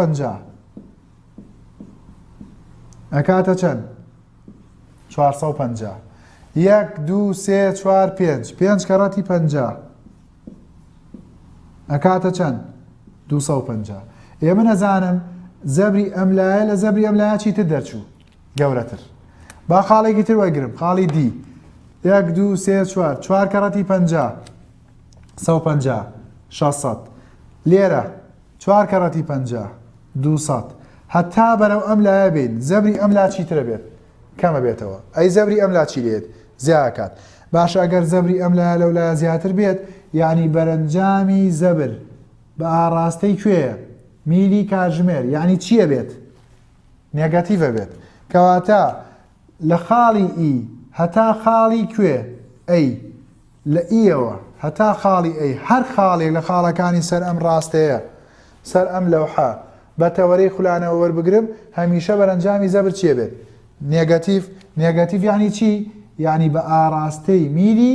ئەکاتە چەند چوار سە پ یەک دوو سێ چوار پێنج پێنج کە ڕەتی پ ئەکاتە چەند دو پ ئێمە نەزانم زەبری ئەم لایە لە زەبری ئەم لاچی تر دەرچوو گەورەتر با خاڵێکی تر وەگرم خاڵی دی یەک دو سێ چوار چوار کەڕەتی پ سە پ 600 لێرە چوار کەڕەتی پ 200 هەتا بەرەو ئەم لایە بین زەبری ئەم لا چیترە بێت کەمە بێتەوە ئەی زەبری ئەم لا چی لێت زیاکات باش ئەگەر زەبری ئەم لایە لەو لایە زیاتر بێت یعنی بەرەنجامی زەبر بە ئاڕاستەی کوێە میلی کاژمێر یعنی چییە بێت؟ نێگەتیڤە بێت کەواتە لە خاڵی ئی هەتا خاڵی کوێ ئەی لە ئیەوە هەتا خاڵی ئەی هەر خاڵێک لە خاڵەکانی سەر ئەم ڕاستەیە سەر ئەم لەوحە بە تەوەرەی خولانەوە وەربگرم هەمیشە بەرەنجامی زەبر چێ بێت نێگەتیف نێگەتیف یعنی چی یعنی بە ئاراستەی میلی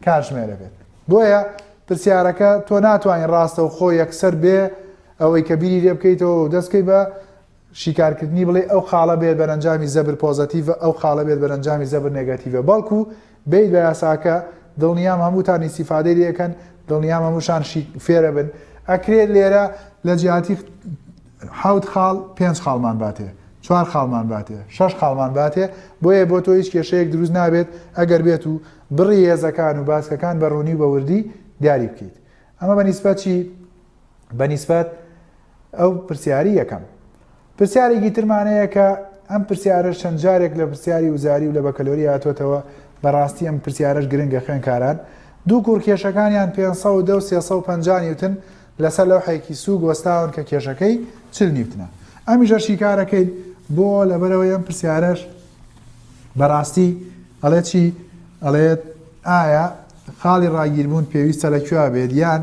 کارژمێرە بێت بۆیە پرسیارەکە تۆ ناتوانین ڕاستە و خۆ یەکسەر بێ ئەوەی کە بیری لێ بکەیتەوە دەستکەی بە شیکارکردنی بڵێی ئەو خاڵە بێت بەرەنجامی زەبر پۆزەتیڤە ئەو خاڵە بێت بەرەنجامی زەبر نێگەتیڤە بەڵکو بێیت بە یاساکە دڵنیام هەمووتان ئیستیفادەی لێ ئەکەن دڵنیام هەمووشان شی فێرەبن ئەکرێت لێرە لە جیاتی حەوت خاڵ پێنج خاڵمان باتێ چوار خاڵمان باتێ شەش خاڵمان باتێ بۆیە بۆ تۆ هیچ کێشەیەک دروست نابێت ئەگەر بێت و بڕی هێزەکان و باسکەکان بە ڕوونی و بە وردی دیاری بکەیت ئەمە بە نیسبەت چی بە نیسبەت ئەو پرسیاری یەکەم پرسیارێکی ترمان هەیە کە ئەم پرسیارە چەند جارێک لە پرسیاری وزاری و لە بەکەلۆری هاتوێتەوە بەڕاستی ئەم پرسیارش گرنگە خوێنکاران دوو کوڕ کێشەکانیان 510 و 350 نیوتن لەسەر لەو حەیکی سووک وەستاون کە کێشەکەی چل نیوتنە ئەمیشە شیکارەکەیت بۆ لەبەرەوە ئەم پرسیارش بەڕاستی ئەڵێ چی ئەڵێت ئایا خاڵی ڕاگیربوون پێویستە لە کوێ بێت یان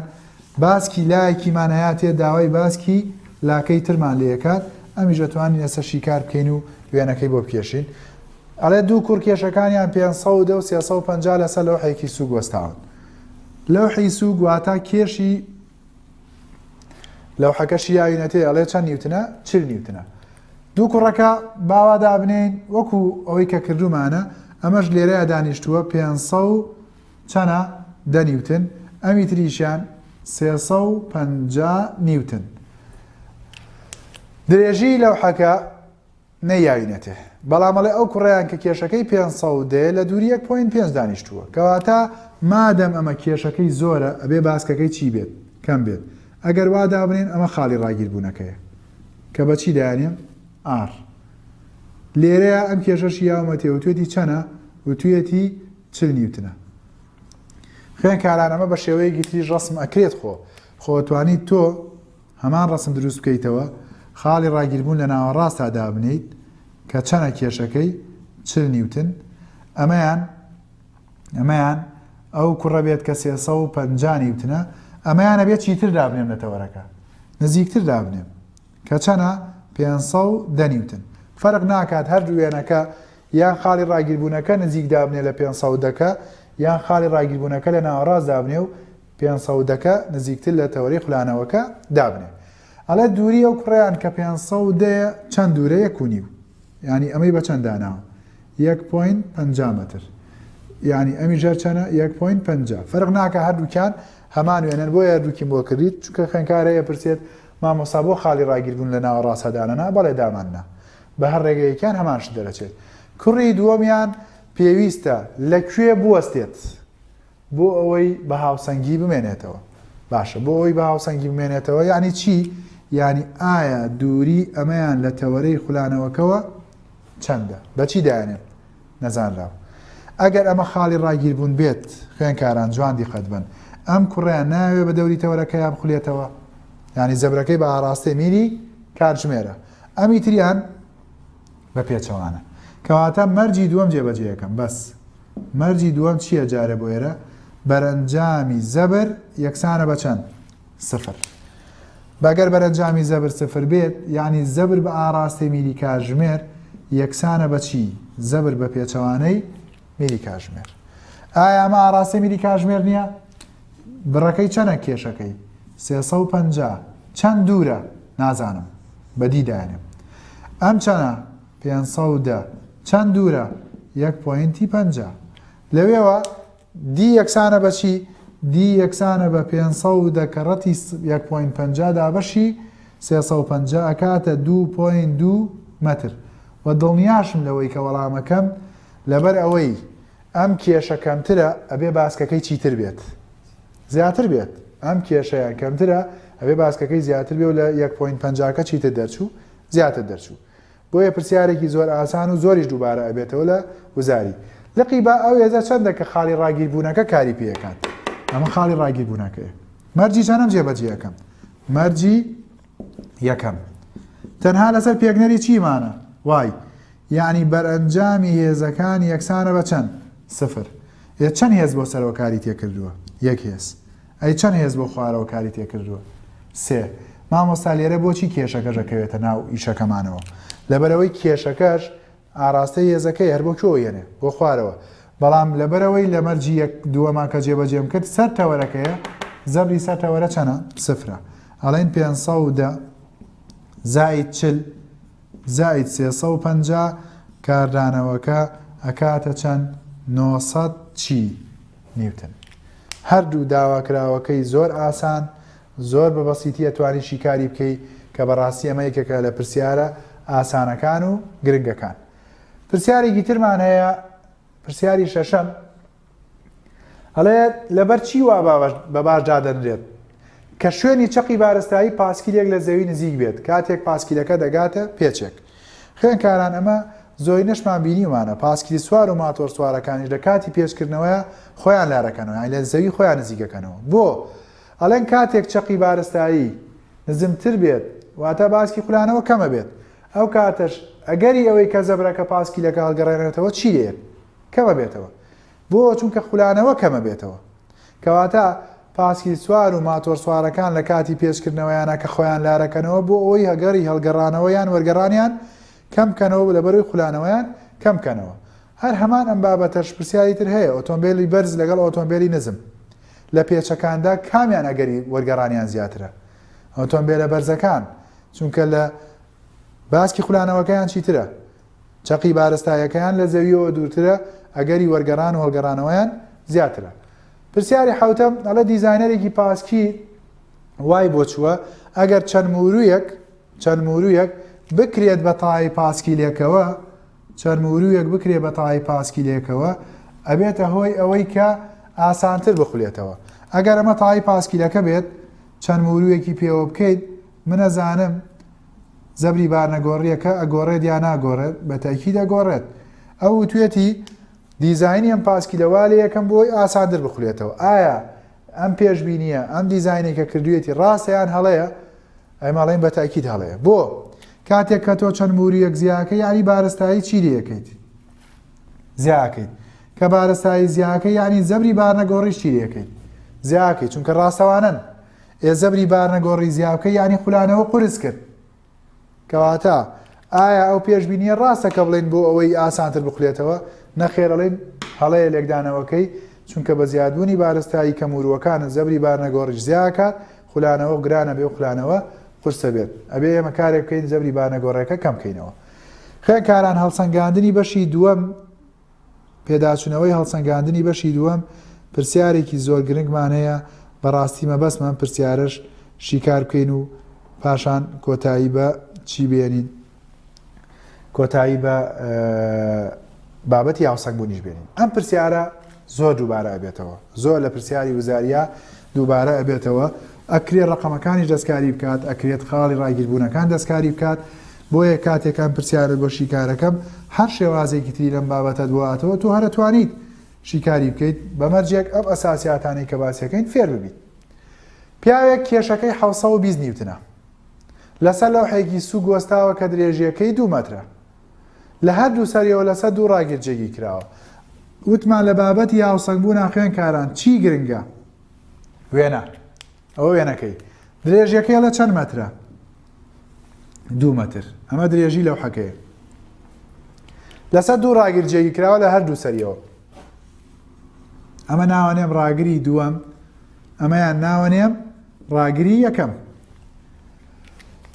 باسکی لایەکیمان ئەیاتێ داوای باسکی لاکەی ترمان لێ ئەکات ئەمیش ئەتوانین ئێستا شیکار بکەین و وێنەکەی بۆ بکێشین ئەڵێ دوو کوڕ کێشەکانیان پێ سەودە و سێ سەو پەنجا لەسەر لەوحێکی سووگ وەستاون لەوحی سووگ واتا کێشی لەوحەکەشی یاوینەتێ ئەڵێ چەند نیوتنە چل نیوتنە دوو کوڕەکە باوا دابنین وەکو ئەوەی کە کردومانە ئەمەش لێرەیە دانیشتووە پێ سەو چەنە؟ دە نیوتن، ئەمی تریشیان سێ سەد و پەنجا نیوتن. درێژیی لەوحەکە نەیاوینەتێ، بەڵام ئەڵێ ئەو کوڕەیان کە کێشەکەی پێنج سەد و دە یە لە دووری یەک پۆینت پێنج دانیشتووە. کەواتە مادەم ئەمە کێشەکەی زۆرە ئەبێ باسکەکەی چی بێت؟ کەم بێت. ئەگەر وا دابنێین ئەمە خاڵی ڕاگیربوونەکەیە کە بە چی دایانێم؟ ئاڕ. لێرەیە ئەم کێشەشی یاومەتێ وتوێتی چەنە؟ وتویەتی چل نیوتنە خوێنکاران ئەمە بە شێوەیەکی تریش ڕسم ئەکرێت خۆ خۆ توانیت تۆ هەمان ڕسم دروست بکەیتەوە خاڵی ڕاگیربوون لە ناوەڕاستا دابنیت کە چەنە کێشەکەی چل نیوتن ئەمەیان ئەمەیان ئەو کوڕە بێت کە سێسە و پەنجانی وتنە ئەمەیانە بێت چیتر دابنێم لە تەوەرەکە نزیکتر دابنێم کە چەنە؟ پێنج سەد و دە نیوتن. فەرق ناکات هەر دوو وێنەکە یان خاڵی ڕاگیربوونەکە نزیک دابنێ لە پێنج سەد و دە کە، یان خاڵی ڕاگیربوونەکە لە ناوەڕاست دابنێ و پێنج سەد و دە کە نزیکتر لە تەوەرەی خولانەوەکە دابنێ. ئەڵێ دووری ئەو کوڕەیان کە پێنج سەد و دە یە چەند دوورە؟ یەک و نیو. یانی ئەمەی بە چەند داناوە؟ یەک پۆینت پەنجا مەتر. یانی ئەمیش هەر چەنە؟ یەک پۆینت پەنجا. فەرق ناکات هەردووکیان هەمان وێنەن بۆیە هەردووکیم بۆ کردیت چونکە خوێنکار هەیە پرسێت مامۆستا بۆ خاڵی ڕاگیربوون لە ناوەڕاست هەدانەنا؟ بەڵێ دامان نا. بە هەر ڕێگەیەکیان هەمان شت دەرەچێت. کوڕی دووەمیان پێویستە لە کوێ بوەستێت بۆ ئەوەی بە هاوسەنگی بمێنێتەوە؟ باشە بۆ ئەوەی بە هاوسەنگی بمێنێتەوە یعنی چی؟ یعنی ئایا دووری ئەمەیان لە تەوەرەی خولانەوەکەوە چەندە؟ بە چی دایانێن؟ نەزانراو. ئەگەر ئەمە خاڵی ڕاگیربوون بێت، خوێنکاران جوان دیقەت بەن، ئەم کوڕەیان نایەوێ بە دەوری تەوەرەکەیا بخولێتەوە؟ یانی زەبرەکەی بە ئاڕاستەی میری کاتژمێرە، ئەمی تریان بە پێچەوانە. کەواتە مەرجی دووەم جێبەجێیەکەم. بەس مەرجی دووەم چییە جارێ بۆ ئێرە؟ بەرەنجامی زەبر یەکسانە بە چەند؟ سفر بە گەر بەرەنجامی زەبر سفر بێت یانی زەبر بە ئاڕاستەی میری کاژمێر یەکسانە بە چی زەبر بە پێچەوانەی میری کاژمێر ئایا ئەمە ئاڕاستەی میری کاژمێر نییە بڕەکەی چەنە کێشەکەی سێسە و پەنج چەند دوورە نازانم بەدی داێنم ئەم چەنە پێ چەند دوورە یەک پوینتی پەنج لەوێوە دی یەکسانە بە چی؟ دی یەکسانە بە پێنج سەد و دە کە ڕەتی یەک پۆینت پەنجا دابەشی سێ سەد و پەنجا ئەکاتە دوو پۆینت دوو مەتر و دڵنیاشم لەوەی کە وەڵامەکەم لەبەر ئەوەی ئەم کێشە کەمترە ئەبێ باسکەکەی چیتر بێت زیاتر بێت ئەم کێشەیان کەمترە ئەبێ باسکەکەی زیاتر بێ و لە یەک پۆینت پەنجاکە چیتر دەرچوو زیاتر دەرچوو بۆیە پرسیارێکی زۆر ئاسان و زۆریش دووبارە ئەبێتەوە لە وزاری لقی با ئەو هێزە چەندە کە خاڵی ڕاگیربوونەکە کاری پێ ئەکات ئەمە خاڵی ڕاگیربوونەکەیە مەرجی چەنەم جێبەجێ ئەکەم مەرجی یەکەم تەنها لەسەر پێگنەری چیمانە وای یعنی بەرەنجامی هێزەکان یەکسانە بە چەند سفر یە چەند هێز بۆ سەرۆکاری تێکردووە یەک هێز ئەی چەند هێز بۆ خوارەوە کاری تێکردووە؟ سێ، مامۆستا لێرە بۆچی کێشەکەش ئەکەوێتە ناو ئیشەکەمانەوە؟ لەبەرئەوەی کێشەکەش ئاڕاستەی هێزەکەی هەر بۆ کوێوە یەنێ؟ بۆ خوارەوە. بەڵام لەبەرئەوەی لە مەرجی یەک دووەمە کە جێبەجێم کرد سەر تەوەرەکەیە، زەبری سەر تەوەرە چەنە؟ سفرە. ئەڵێین پێنج سەد و دە زائید چل. زائید سێ سەد و پەنجا کاردانەوەکە ئەکاتە چەند؟ نۆ سەد چی؟ نیوتن. هەردوو داواکراوەکەی زۆر ئاسان، زۆر بە بەسیتی ئەتوانی شیکاری بکەی کە بە ڕاستی ئەمە یەکێکە لە پرسیارە ئاسانەکان و گرنگەکان. پرسیارێکی ترمان هەیە، پرسیاری شەشەم. ئەڵێت لەبەر چی وا بە باش دادەنرێت کە شوێنی چەقی بارستایی پاسکیلێک لە زەوی نزیک بێت کاتێک پاسکیلەکە دەگاتە پێچێک خوێنکاران ئەمە زۆرینەشمان بینیمانە پاسکیلی سوار و ماتۆر سوارەکانیش لە کاتی پێچکردنەوەیە خۆیان لارەکەنەوە یان لە زەوی خۆیان نزیکەکەنەوە بۆ ئەڵێن کاتێک چەقی بارستایی نزمتر بێت واتە باسکی خولانەوە کەمە بێت ئەو کاتەش ئەگەری ئەوەی کە زەبرەکە پاسکیلەکە هەڵگەڕێنێتەوە چی دێت کەمە بێتەوە بۆ چونکە خولانەوە کەمە بێتەوە کەواتە پاسکیل سوار و ماتۆر سوارەکان لە کاتی پێچکردنەوەیانە کە خۆیان لارەکەنەوە بۆ ئەوەی هەگەری هەڵگەڕانەوە یان وەرگەڕانیان کەم کەنەوە و لەبەروی خولانەوەیان کەم کەنەوە هەر هەمان ئەم بابەتەش پرسیاری تر هەیە ئۆتۆمبیلی بەرز لەگەڵ ئۆتۆمبیلی نزم لە پێچەکاندا کامیان ئەگەری وەرگەڕانیان زیاترە ئۆتۆمبیلە بەرزەکان چونکە لە باسکی خولانەوەکەیان چیترە چەقی بارستاییەکەیان لە زەوییەوە دوورترە، ئەگەری وەرگەڕان و هەڵگەڕانەوەیان زیاترە. پرسیاری حەوتەم، ئەڵێ دیزاینەرێکی پاسکی وای بۆ چووە، ئەگەر چەند مووروویەک، چەند مووروویەک، بکرێت بە تایەی پاسکیلێکەوە، چەند مووروویەک بکرێت بە تایەی پاسکیلێکەوە، ئەبێتە هۆی ئەوەی کە ئاسانتر بخولێتەوە. ئەگەر ئەمە تایەی پاسکیلەکە بێت، چەند مووروویەکی پێوە بکەیت، منەزانم، زەبری بارنەگۆڕییەکە ئەگۆڕێت یا ناگۆڕێت؟ بە تەئکید ئەگۆڕێت. ئەو وتوێتی دیزاینی ئەم پاسکیلە وا لێ یەکەم بۆی ئاساندر بخولێتەوە. ئایا ئەم پێشبینییە، ئەم دیزاینەی کە کردویەتی ڕاستە یان هەڵەیە؟ ئێمە ئەڵێین بە تەئکید هەڵەیە. بۆ؟ کاتێک کە تۆ چەند موورییەک زیا ئەکەی یانی بارستایی چی لێ ئەکەیت؟ زیا ئەکەیت. کە بارستایی زیا ئەکەی یانی زەبری بارنەگۆڕیش چی لێ ئەکەیت؟ زیا ئەکەیت، چونکە ڕاستەوانەن. ئێ زەبری بارنە گۆڕی زیاوکە یانی خولانەوە قورس کرد. کەواتە ئایا ئەو پێشبینیە ڕاستە کە بڵێین بۆ ئەوەی ئاسانتر بخولێتەوە؟ نەخێر ئەڵێین هەڵەیە لێکدانەوەکەی، چونکە بە زیادبوونی بارستایی کەموروەکانت زەبری بارنەگۆڕیش زیاکات، خولانەوە گرانەبێ و خولانەوە قورسەبێت ئەبێ ئێمە کارێک بکەین زەبری بارنەگۆڕێکە کەمکەینەوە. خوێنکاران هەڵسەنگاندنی بەشی دووەم. پێداچونەوەی هەڵسەنگاندنی بەشی دووەم پرسیارێکی زۆر گرنگمان هەیە بەڕاستی مەبەستمە ئەم پرسیارەش شیکار بکەین و پاشان کۆتایی بە چی بێنین کۆتایی بە بابەتی هاوسەنگ بوونیش بێنین ئەم پرسیارە زۆر دووبارە ئەبێتەوە زۆر لە پرسیاری وزاریا دووبارە ئەبێتەوە ئەکرێت ڕقەمەکانیش دەستکاری بکات ئەکرێت خاڵی ڕاگیربوونەکان دەستکاری بکات بۆیە کاتێک ئەم پرسیارەت بۆ شیکارەکەم هەر شێوازێکی تری لەم بابەتە دواتەوە تۆ هەر ئەتوانیت شیکاری بکەیت بە مەرجێک ئەم ئەساسیاتانەی کە باسیەکەین فێر ببیت پیاوێک کێشەکەی 1920 نیوتنە لەسەر لەوحێکی سوو گۆستاوە کە درێژیەکەی دوو مەترە لە هەردوو سەریەوە لەسەر دوو ڕاگیرجێگی کراوە وتمان لە بابەتی هاوسەنگبوو ناخوێنکاران چی گرنگە وێنە ئەوە وێنەکەی درێژیەکەی لە چەند مەترە دوو مەتر ئەمە درێژی لەو حەکەیە لەسەر دوو ڕاگر جێگی کراوە لە هەردوو سەریەوە ئەمە ناوانێم ڕاگری دووەم ئەمەیان ناوەنێم ڕاگری یەکەم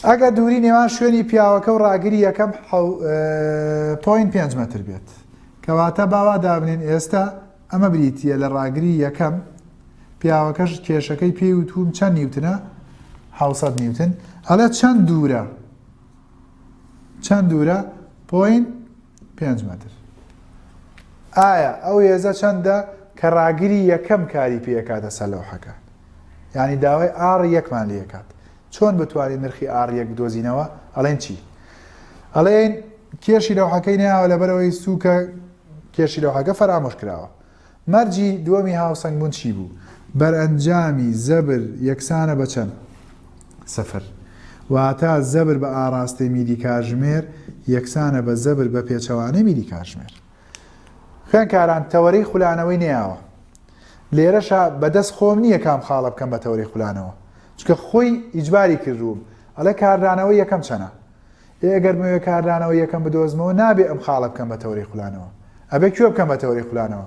ئەگە دووری نێوان شوێنی پیاوەکە و ڕاگری یەکەم پوین پێنج متر بێت کەواتە باوا دابنین ئێستا ئەمە بریتییە لە ڕاگری یەکەم، پیاوەکەش کێشەکەی پێی وتووم چەند نیوتنە؟ حەوسەد نیوتن، ئەڵێ چەند دوورە؟ چەند دوورە؟ پۆین پێنج مەتر. ئایا ئەو هێزە چەندە کە ڕاگری یەکەم کاری پێکاتە سەر لەوحەکە یعنی داوای ئاڕ یەکمان لەکات چۆن بتوانین نرخی ئاڕ یەک بدۆزینەوە ئەڵێن چی ئەڵێن کێشی لەوحەکەی ناوە لەبەرەوەی سووکە کێشی لەوحەکە فەرامۆش کراوە. مەرجی دووەمی هاوسەنگ بوون چی بوو؟ بەرئەنجامی زەبر یەکسانە بە چەند؟ سفر. واتە زەبر بە ئاڕاستەی میری کاژمێر یەکسانە بە زەبر بە پێچەوانەی میری کاژمێر. خوێنکاران تەوەرەی خولانەوەی نەیاوە. لێرەشا بەدەست خۆم نییە کام خاڵە بکەم بە تەوەرەی خولانەوە. چونکە خۆی ئیجباری کردووم. ئەڵێ کاردانەوەی یەکەم چەنە؟ ئێ ئەگەر بمەوێ کاردانەوەی یەکەم بدۆزمەوە نابێ ئەم خاڵە بکەم بە تەوەری خولانەوە ئەبێ کوێ بکەم بە تەوەری خولانەوە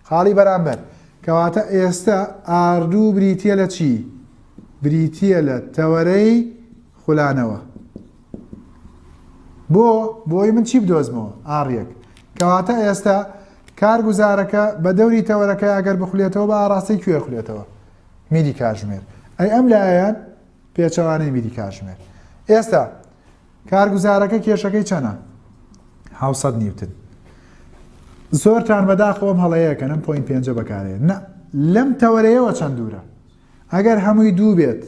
خاڵی بەرامبەر کەواتە ئێستا ئاردوو بریتە لە چی بریتە لە تەوەرەی خولانەوە بۆ بۆی من چی بدۆزمەوە ئاڕیەک کەواتە ئێستا کارگوزارەکە بە دەوری تەوەرەکە ئەگەر بخولێتەوە بە ئاراستەی کوێ خولێتەوە میدی کاژمێر ئەی ئەم لایەن پێچەوانەی بیری کاتژمێر ئێستا کارگوزارەکە کێشەکەی چەنە حوسەت نیوتن زۆرتان بەداخەوەم هەڵەیەکەنم پوین پێنجە بەکارێ نە لەم تەوەرەیەوە چەند دوورە ئەگەر هەمووی دوو بێت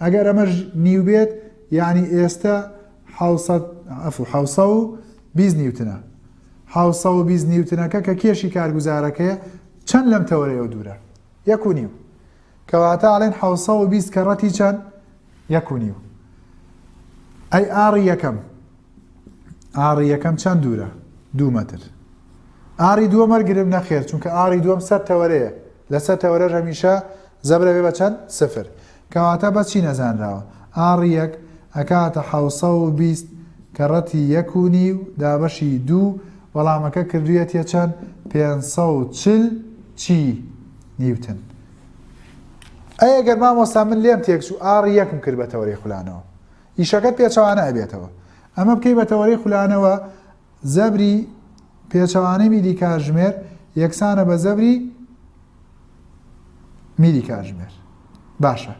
ئەگەر ئەمەش نیو بێت یعنی ئێستا حوسە و بیز نیوتنە حوسە و بیز نیوتنەکە کە کێشی کارگوزارەکەی چەند لەم تەوەرەیەوە دوورە یەک و نیو کەواتە ئەڵێن حەوت سەد و بیست کەڕەتی چەند؟ یەک و نیو. ئەی ئاڕی یەکەم ئاڕی یەکەم چەند دوورە دوو مەتر. ئاری دووە مەرگرم نەخێر چونکە ئاری دووەم سەر تەوەرەیە لەسەر تەوەرەش هەمیشە زەبرە بێ بە چەند سفر کەواتە بەچی نەزانراوە ئاری یەک ئەکاتە حوسە و بیست کە ڕەتی یەک و نی و دابەشی دوو وەڵامەکە کردویەتە چەند پێ چل چی نیوتن ئەی ئەگەر مامۆستا من لێم تێکچوو ئاڕی یەکم کرد بە تەوەرەی خولانەوە ئیشەکەت پێچەوانە ئەبێتەوە ئەمە بکەی بە تەوەرەی خولانەوە زەبری پێچەوانەی میلی کاژمێر یەکسانە بە زەبری میلی کاژمێر باشە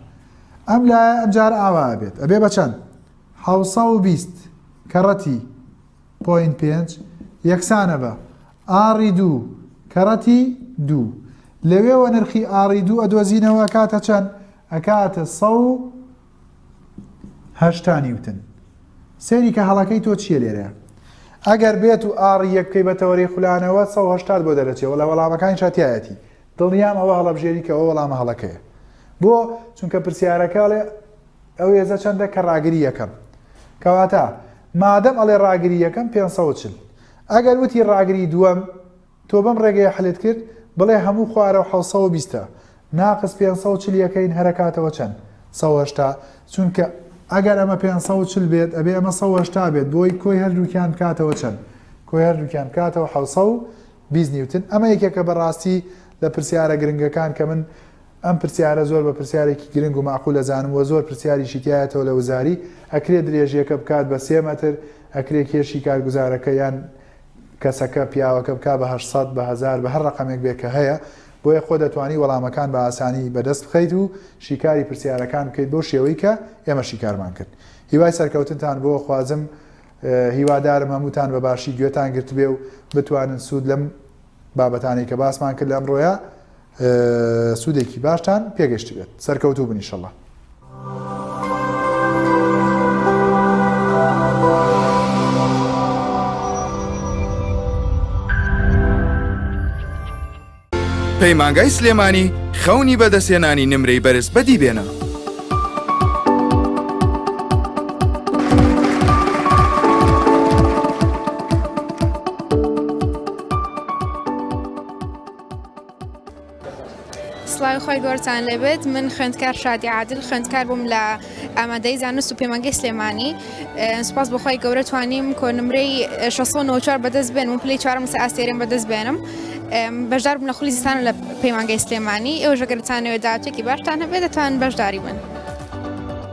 ئەم لایە ئەمجار ئاوا بێت ئەبێ بە چەند حوسە و بیست کەڕەتی پوین پێنج یەکسانە بە ئاڕی دوو، کەڕەتی دوو. لەوێوە نرخی ئاڕی دوو ئەدۆزینەوە ئەکاتە چەند؟ ئەکاتە سەد و هەشتا نیوتن. سەیری کە هەڵەکەی تۆ چییە لێرە؟ ئەگەر بێت و ئاڕی یەک بکەی بە تەوەرەی خولانەوە سە و هەشتات بۆ دەرەچێ وەڵا وەڵامەکانی شاتایەتی دڵنیام ئەوە هەڵەبژێری کە ئەوە وەڵامە هەڵەکەیە بۆ چونکە پرسیارەکە ئەڵێ ئەو هێزە چەندە کە ڕاگری یەکەم کەواتە مادەم ئەڵێ ڕاگری یەکەم پێ چل ئەگەر وتی ڕاگری دووەم تۆ بەم ڕێگەیە حلت کرد بڵێ هەموو خوارەو حەوت سەد و بیست ە ناقس پێنج سەد و چل یەکەین هەرەکاتەوە چەند سەد و هەشتا چونکە ئەگەر ئەمە پێنج سەد و چل بێت ئەبێ ئەمە سەد و هەشتا بێت بۆی کۆی هەردووکیان بکاتەوە چەند کۆی هەردووکیان بکاتەوە حەوت سەد و بیست نیوتن ئەمە یەکێکە بەڕاستی لە پرسیارە گرنگەکان کە من ئەم پرسیارە زۆر بە پرسیارێکی گرنگ و مەعقول ئەزانم وە زۆر پرسیاریشی تیایەتەوە لە وزاری، ئەکرێ درێژیەکە بکات بە سێ مەتر؟ ئەکرێ کێشی کارگوزارەکە یان کەسەکە، پیاوەکە، بکات بە هەشت سەد، بە هەزار، بە هەر ڕەقەمێک بێت کە هەیە؟ بۆیە خۆ دەتوانی وەڵامەکان بە ئاسانی بەدەست بخەیت و شیکاری پرسیارەکان بکەیت بەو شێوەی کە ئێمە شیکارمان کرد. هیوای سەرکەوتنتان بۆ خوازم هیوادارم هەمووتان بە باشی گوێتان گرتبێ و بتوانن سوود لەم بابەتانەی کە باسمان کرد لە ئەمڕۆیە سودێکی باشتان پێگەشتبێت سەرکەوتوو بن ئیشەڵە. پەیمانگای سلێمانی خەونی بەدەستێنانی نمرەی بەرز بەدی بێنە. سڵاوی خۆی گۆرتان لێبێت من خوێندکار شادی عادل خوێندکار بووم لە ئامادەی زانست و پەیمانگەی سلێمانی سپاس بخوای گەورە توانیم کۆنمرەی 1694 بەدەست بێن و پلی چوارم سە ئاستێرم بەدەست بێنم بەشدار بنە خولی زستان لە پەیمانگەی سلێمانی ئەو ژەگەرتانەوە دااتێکی باشتان هەبێت دەتوان بەشداری بن.